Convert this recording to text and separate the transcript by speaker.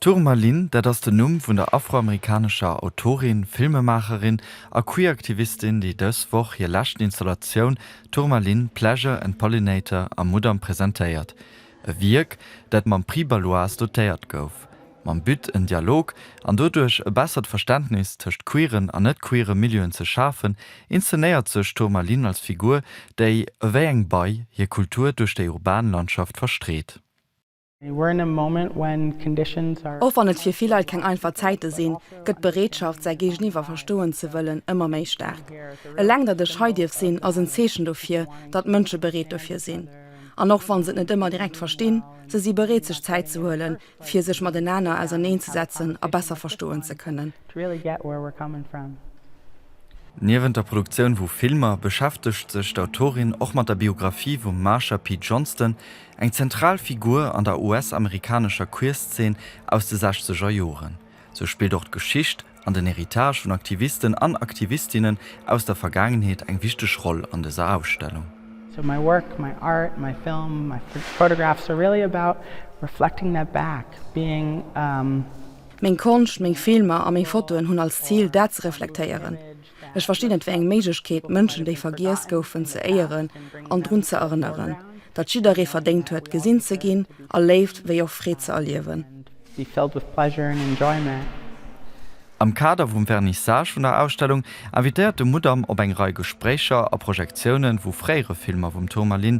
Speaker 1: D'Tourmaline, dat ass den Numm vun der afroamerikanescher Autorin, Filmemaacherin a Queer-Aktivistin, déi dës Woch hir lescht Installatioun Tourmaline, Pleasure and Pollinator am Mudam presentéiert. E Wierk, dat mam Prix Baloise dotéiert gouf. Mam But, en Dialog an doduerch e bessert Verständnis tëscht queeren an net-queere Milieuen ze schafen, inszenéiert sech d'Tourmaline als Figur, déi, ewéi eng Bei, hir Kultur duerch déi urban Landschaft verstreet.
Speaker 2: Och wann et fir vill Leit keng einfach Zäite sinn, gëtt d'Bereetschaft, säi Géigeniwwer verstoen ze wëllen, ëmmer méi staark. Eleng datt ech hei dierf sinn, ass en Zeechen dofir, datt Mënsche bereet dofir sinn. An och wann se et net ëmmer direkt verstinn, se si bereet sech Zäit ze huelen, fir sech matenaner auserneen ze setzen a besser verstoen ze kënnen.
Speaker 1: Niewent der Produktioun vu Filmer beschäftegt sech d'Autorin och mat der Biographie vum Marsha P. Johnston, Eng zentral Figur an der US-amerikanescher Queerzeen aus de sechzeger Joren. Sou spillt och d'Geschicht an den Héritage vun Aktivisten an Aktivistinnen aus der Vergaangenheet eng wichteg Roll an dëser Ausstellung. So my work,
Speaker 3: my art, my film, my photographs are really about reflecting that back, being a.
Speaker 2: Meng Konscht, meng Filmer a meng Fotoen hunn als Zil, dat ze reflektéieren, Ech verstinn et wéi eng Méiglechkeet, Mënschen, déi vergiess goufen, ze éieren an drun ze erënneren, datt jidderee verdéngt huet, gesinn ze ginn a Léift wéi och Freed ze erliewen.
Speaker 1: Am Kader vum Vernissage vun der Ausstellung invitéiert de Mudam op eng Rei Gespréicher a Projektiounen, wou fréiere Filmer vum Tourmaline